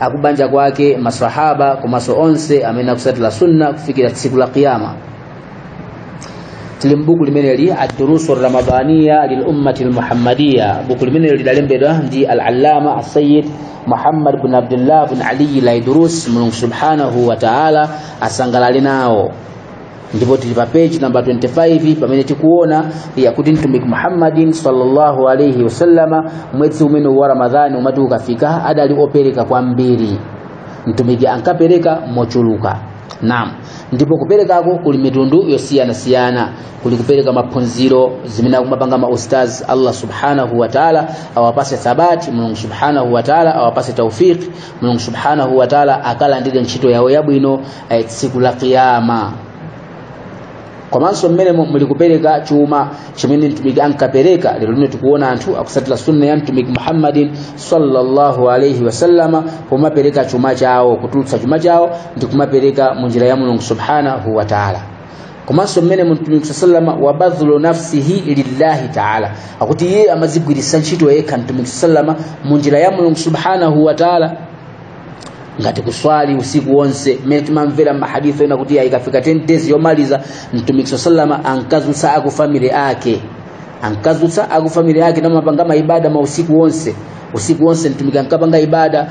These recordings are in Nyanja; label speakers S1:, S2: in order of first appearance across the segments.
S1: akubanja kwake masahaba komanso onse amene akusatira sunna kufikira tsiku la kiyama tili mbuku limeneli ad-durusu ramadaniya lil ummati al-muhammadiya buku limeneli lidalembedwa ndi al-allama as-sayyid Muhammad bin Abdullah bin Ali al-Aidarus Mulungu subhanahu wa ta'ala asangalale nawo ndipo tili pa page namba 25 pamene tikuona ya kuti mtumiki muhammadin sallallahu alaihi wasallama mwezi umenewu wa ramadhani umati ukafika adali opereka kwambiri mtumiki ankapereka mochuluka naam ndipo kuperekako kuli mitundu yosiyanasiyana kuli kupereka maphunziro zimene akumapanga maustaz allah subhanahu wataala awapase thabati mulungu subhanahu wataala awapase taufiki mulungu subhanahu wataala akalandire ntchito yawo yabwino eh, tsiku la kiyama komanso mmenemo muli kupereka chuma chimene mtumiki ankapereka lero lino tikuona anthu akusatira sunna ya mtumiki muhammadin sallallahu alaihi wasallama kumapereka chuma chawo kutulutsa chuma chawo ndi kumapereka mu njira ya mulungu subhanahu wataala komanso mmene mtumiki sallama wa badhlu nafsihi lillahi taala akuti iye amazigwiritsa ntchito yekha mtumiki sallama mu njira ya mulungu subhanahu wa taala ngati kuswali usiku wonse mmene timamvera mmahadith ena kuti ikafika 10 days yomaliza mtumiki sallama ankazutsa akufamili ake ankazutsa akufamili ake namapanga maibada mausiku wonse usiku wonse mtumiki ankapanga ibada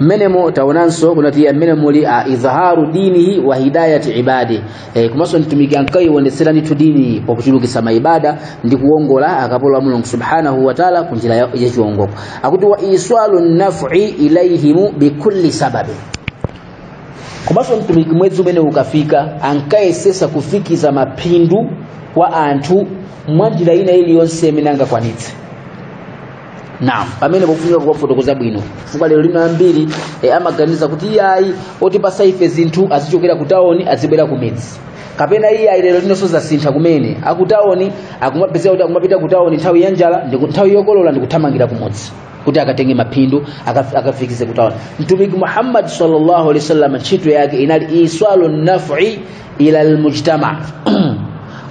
S1: mmenemo taonanso kunati ya mmene muli a izharu dinihi wa hidayati ibadi e, komanso mtumiki ankaiwonetsera ndithu dini pakuchulukitsa maibada ndi kuwongola akapolo a mulungu subhanahu wa taala ku njira ya chiwongoko akuti wa iswalu nafi ilaihimu bikulli sababi komanso mtumiki mwezi umenewu ukafika ankayesesa kufikiza maphindu kwa anthu mwa njira ina iliyonse imene angakwanitse naam pamene pofunika kufotokoza bwino chifukwa lero lino ambiri e, amaganiza kuti iyayi otipasa ife zinthu azichokera ku tawoni azibwera ku midzi kapena iyayi lero linonso zasintha kumene akutawoni akumapezeka kuti akumapita ku tawoni nthawi ya njala ndi ku- nthawi yokolola ndi kuthamangira kumudzi kuti akatenge maphindu akaf- akafikize ku tawoni mtumiki muhammad sallallahu alaihi wasallam ntchito yake inali iswalu nafi ila almujtama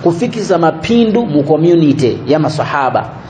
S1: kufikiza maphindu mu community ya masahaba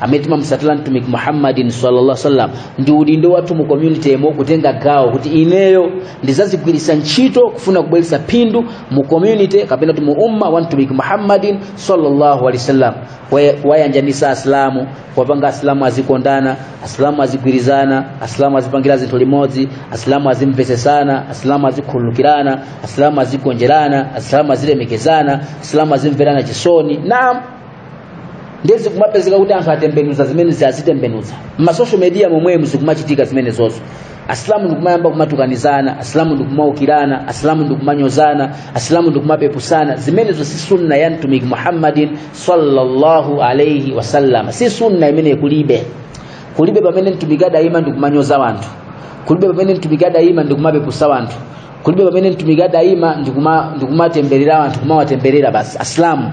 S1: amene timamusatira mtumiki muhammadin sallallahu alaihi wasallam ndi udindo wathu mu community mo kutenga gawo kuti ineyo ndizazigwiritsa ntchito kufuna kubweretsa phindu mu community kapena kuti mu umma wa mtumiki muhammadin sallallahu alaihi wasallam Kuwa- kuwayanjanisa asilamu kuwapanga asilamu azikondana asilamu azigwirizana asilamu azipangira zinthu limodzi asilamu azimvesesana asilamu azikhululukirana asilamu azigonjerana asilamu azilemekezana asilamu azimverana chisoni naam ndiye zikumapezeka kuti anthu atembenuza zimene akuzitembenuza m'masocial media momwemu zikumachitika zimenezozo asilamu ndikumayamba kumatukanizana asilamu ndikumaukirana asilamu ndikumanyozana asilamu ndikumapepusana zimenezo si sunna ya mtumiki muhammadin sallallahu alaihi wasallam si sunna imene kulibe kulibe pamene mtumiki adayima ndikumanyoza wanthu kulibe pamene mtumiki adayima ndikumapepusa wanthu kulibe pamene mtumiki adayima ndikumatemberera wanthu kumawatemberera basi asilamu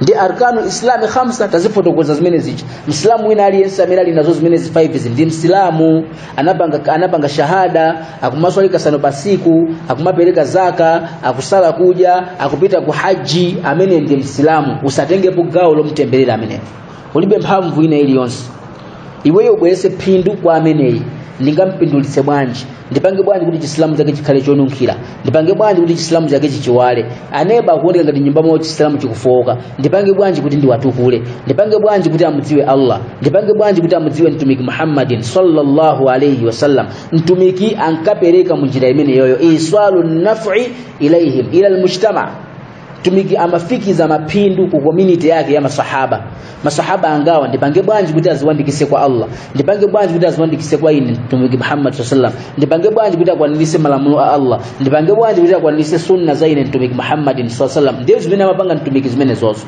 S1: ndi arkanu islami khamsa tazifotokoza zimene zija msilamu wina aliyense amene ali nazo zimenezi 5 izi ndi msilamu anapanga, anapanga shahada akumaswali kasano pasiku akumapereka zaka akusala kuja akupita ku haji amene ndi msilamu usatengepo gawo lomtemberera ameneyo ulibe mphamvu ina iliyonse iweyo ubwerese phindu kwa ameneyi ndingampindulitse bwanji ndipange bwanji kuti chisilamu chake chikhale chonunkhira ndipange bwanji kuti chisilamu chake chiziwala aneba akuoneka ngati nyumba mwawo chisilamu chikufowoka ndipange bwanji kuti ndiwatukule ndipange bwanji kuti amudziwe allah ndipange bwanji kuti amudziwe mtumiki muhammadin sallallahu alaihi wasallam mtumiki ankapereka munjira imeneyoyo iswalu nafi ilaihim ila lmujtama mtumiki amafikiza maphindu ku community yake ya masahaba masahaba angawa ndipange bwanji kuti aziwandikise kwa allah ndipange bwanji kuti aziwandikise kwa ine mtumiki muhammad saa salam ndipange bwanji kuti akwanirise malamulo a allah ndipange bwanji kuti akwanirise sunna za ine mtumiki muhammadin saa salam ndiye zimene amapanga mtumiki zimenezozo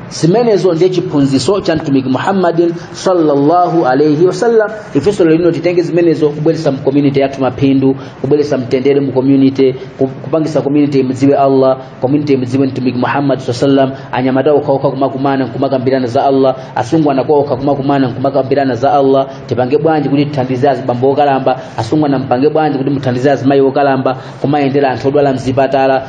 S1: zimenezo ndiye chiphunzitso cha mtumiki muhammadin sallallahu alaihi wasallam ifenso lero lino titenge zimenezo kubweretsa mu community yathu maphindu kubweretsa mtendere mu community ku- kupangisa community imdziwe allah community imdziwe mtumiki muhammad saa sallam anyamata okhaokha kumakumana nkumakambirana za allah asungwana okhaokha kumakumana nkumakambirana za allah tipange bwanji kuti tithandize azibambo okalamba asungwana mpange bwanji kuti muthandize azimayi okalamba kumayendera anthu odwala mzipatala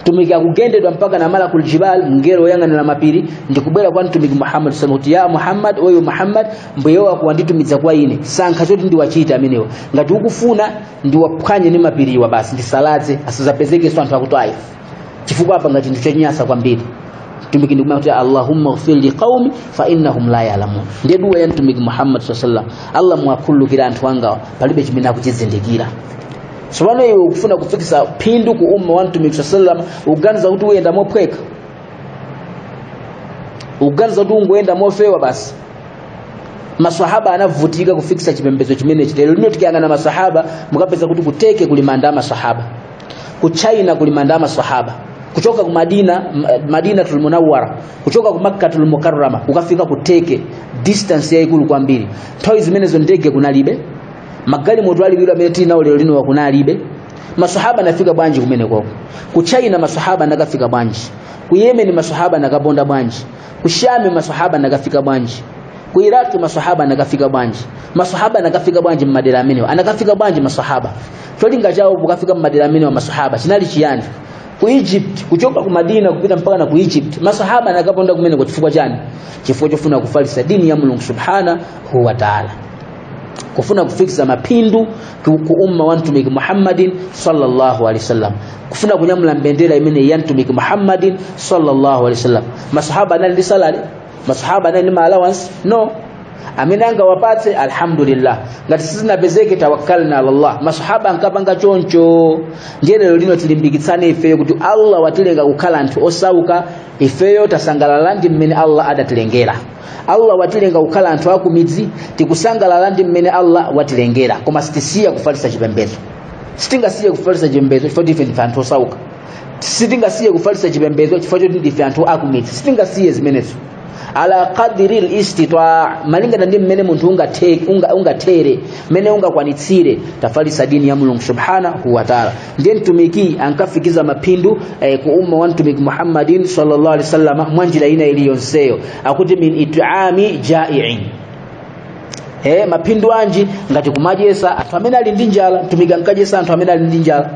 S1: mtumiki akugendedwa mpaka na malakul jibal mngelo woyang'anira mapiri ndikubwera kwa mtumiki muhammad sallallahu alaihi wasallam kuti ya muhammad oyo muhammad mbuye wako wanditumiza kwa ine sankha choti ndiwachite amenewa ngati ukufuna ndiwaphwanye ndi mapiriwa basi ndisalaze asazapezekenso anthu aku Taif chifukwa apanga chinthu chonyasa kwambiri mtumiki ndikumayankha kuti allahumma ghfir li qaumi fa innahum la ya'lamun ndiye duwa ya mtumiki muhammad sallallahu alaihi wasallam allah muwakhululukire anthu angawa palibe chimene akuchizindikira tsopano iwe ukufuna kufikisa phindu ku umma wa mtumiki saa sallam ukuganiza kuti uyenda mophweka ukuganiza kuti ungoyenda mofewa basi masahaba anavutika kufikisa chipembedzo chimenechi lero lino tikayang'ana masahaba mukapeza kuti ku Turkey kuli manda a masahaba ku china kuli manda a masahaba kuchoka ku madina M- madina tulmunawara kuchoka ku makka tulmukarrama ukafika ku Turkey distance yaikulu kwambiri nthawi zimenezo ndege kunalibe magalimoto aliwiro omwe tili nawo lero lino kunalibe masahaba anafika bwanji kumeneko ku china masahaba anakafika bwanji ku yemen masahaba anakaponda bwanji ku shami masahaba anakafika bwanji ku iraki masahaba anakafika bwanji masahaba anakafika bwanji mmadera amenewa anakafika bwanji masahaba cholinga chawo pokafika mmadera amenewa masahaba chinali chiyani ku egypt kuchoka ku madina kupita mpaka na ku egypt masahaba anakaponda kumeneko chifukwa chani chifukwa chofuna kufalisa dini ya mulungu subhanahu wa taala kufuna kufikiza maphindu ku ku umma wa mtumiki muhammadin sallallahu alaihi wasallam kufuna kunyamula mbendera imeneyi ya mtumiki muhammadin sallallahu alaihi wasallam masahaba anali ndi salary masahaba anali ndi ma allowance no amene angawapatse alhamdulillah ngati sizinapezeke tawakkalna ala allah masahaba ankapanga choncho ndiye lero lino tilimbikitsane ifeyo kuti allah watilenga kukhala anthu osauka ifeyo tasangalala ndi mmene allah adatilengera allah watilenga kukhala anthu akumidzi tikusangalala ndi mmene allah watilengera koma sitisiya kufalitsa chipembedzo sitingasiye kufalitsa chipembedzo chifukwa choti ife ndife anthu osauka sitingasiye kufalitsa chipembedzo chifukwa choti ndife anthu akumidzi sitingasiye zimenezo ala qadri listitaa malingana ndi mmene munthu ungathe- unga- ungathere mmene ungakwanitsire tafalitsa dini ya mulungu subhanahu wataala ndiye mtumiki ankafikiza maphindu eh, ku umma wa mtumiki muhammadin sallallahu alaihi wasallam mwa njira ina iliyonseyo akuti min it'ami ja'iin eh, maphindu anji ngati kumadyetsa anthu amene ali ndi njala mtumiki ankadyetsa anthu amene ali ndi njala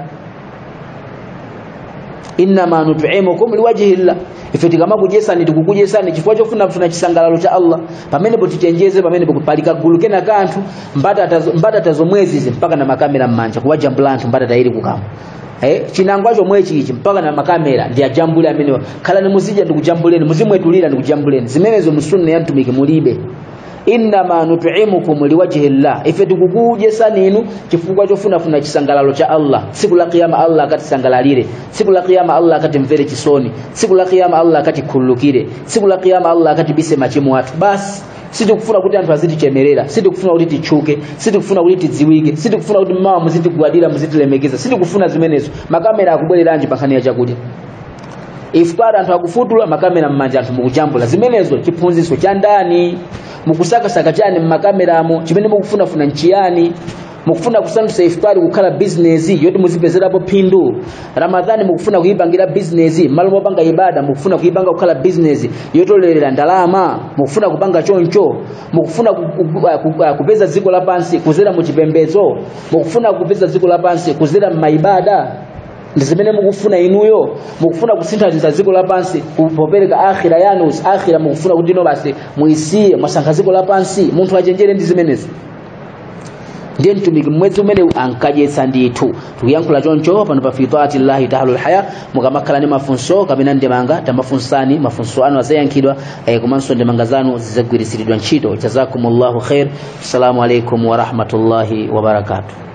S1: innama nut'imukum liwajhi llah ife tikamakudyesani tikukudyesani chifukwa chofunafuna chisangalalo cha allah pamenepo tichenjeze pamenepo pali kagulu kena ka anthu mbatata zo- mbatata zomwezi izi mpaka na makamera m'manja kuwajambula anthu mbatata ili kukama Eh, chinangwa chomwechichi mpaka na makamera ndiwajambule amenewa khalani muzidya ndikujambuleni muzimwetulira ndikujambuleni zimenezo mu sunna ya mtumiki mulibe innama nut'imukum liwajhi llah ife tikukudyesani inu chifukwa chofunafuna chisangalalo cha allah tsiku la kiyama allah akatisangalalire tsiku la kiyama allah akatimvere chisoni tsiku la kiyama allah akatikhululukire tsiku la kiyama allah akatibise machimo athu basi sitikufuna kuti anthu azitichemerera sitikufuna kuti titchuke sitikufuna kuti tidziwike sitikufuna kuti mmawa muzitigwadira muzitilemekeza sitikufuna zimenezo makamera akubwereranji pa nkhani ya chakudya iftar anthu akufutula makamera m'manja anthu mukujambula zimenezo chiphunzitso cha ndani mukusakasaka chani m'makameramo chimene mukufunafuna nchiyani mukufuna kusandutsa iftari kukhala bizinesi yoti muzipezerapo phindu ramadhani mukufuna kuyipangira bizinesi mmalo mopanga ibada mukufuna kuyipanga kukhala bizinesi yotolera ndalama mukufuna kupanga choncho mukufuna ku- ku- ku- ku- kupeza dziko lapansi kuzera mu chipembedzo mukufuna kupeza dziko lapansi kuzera m'mayibada ndi zimene mukufuna inuyo mukufuna kusinthanitsa dziko lapansi ku- popereka akhira yanu akhira mukufuna kuti ino basi muisiye mwasankha dziko lapansi munthu wochenjera ndi zimenezi ndiye mtumiki mmwezi umenewu ankadyetsa ndithu tukuyankhula choncho pano pa fitati llahi taala lhaya mukamakhala ndi mafunso kapena ndemanga tamafunsani mafunso anu azayankhidwa eh, komanso ndemanga zanu zizagwiritsiridwa ntchito jazakumullahu khair assalamu alaikum warahmatullahi wabarakatuh